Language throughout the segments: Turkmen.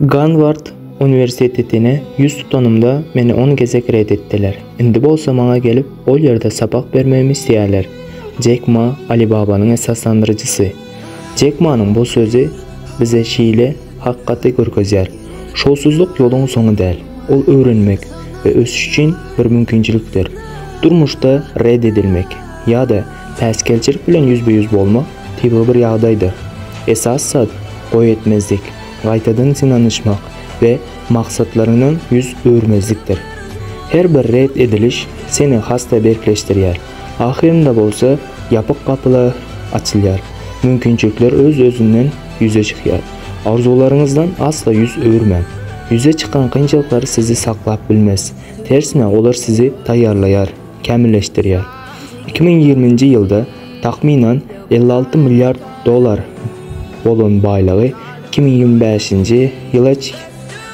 Garward uniwersitetine ýüz tutanymda, meni on gezek ret etdiler. Indi bolsa maňa gelip, ol ýerde sapak bermegimi isleýärler. Jek Ma, Alibabanyň esaslandyryjysy. Jek Manyň bu sözi bize şeýle hakykaty görkezýär, Şowsuzlyk ýoluň soňy däl. Ol öwrenmek we ösüş üçin bir mümkinçilikdir. Durmuşda ret edilmek. ýa-da päsgelçilik bilen ýüzbe-ýüz bolmak tebigy bir ýagdaýdyr. Esasy zat, goý etmezlik, gaýtadan synanyşmak we maksatlaryňdan ýüz öwürmezlikdir. Her bir ret ediliş seni has-da berkleşdirýär, ahyrynda bolsa ýapyk gapylar açylýar, mümkinçilikler öz-özünden ýüze çykýar. Arzuwlaryňyzdan asla ýüz öwürmäň. Ýüze çykan kynçylyklar sizi saklap bilmez, tersine olar sizi taýýarlaýar. kämilleşdirýär. Iki müň ýigriminji ýylda takmynan elli alty milliard dollar bolan baýlygy iki müň ýigrimi bäşinji ýyla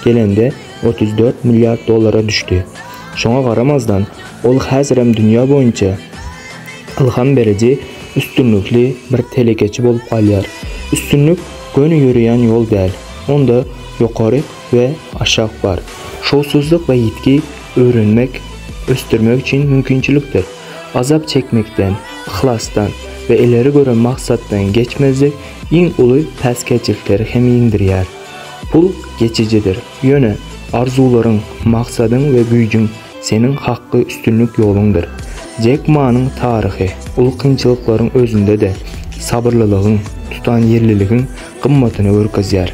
gelende otuz dört milliard dollara düşdi. Şoňa garamazdan, ol häzirem dünýä boýunça ylham beriji üstünlikli bir telekeçi bolup galýar. Üstünlik göni ýöreýän ýol däl, onda ýokary we aşak bar. Şowsuzlyk we ýitgi öwrenmek, ösdürmek üçin mümkinçilikdir. Azap çekmekden, yhlasdan we ileri gören maksatdan geçmezlik iň uly päsgelçilikleri hem ýeňdirýär. Pul geçijidir, ýöne arzuwlaryň, maksadyň we güýjüň seniň hakky üstünlik ýoluňdyr. Jek Manyň taryhy uly kynçylyklaryň özünde-de sabyrlylygyň, tutanýerliligiň gymmatyny görkezýär.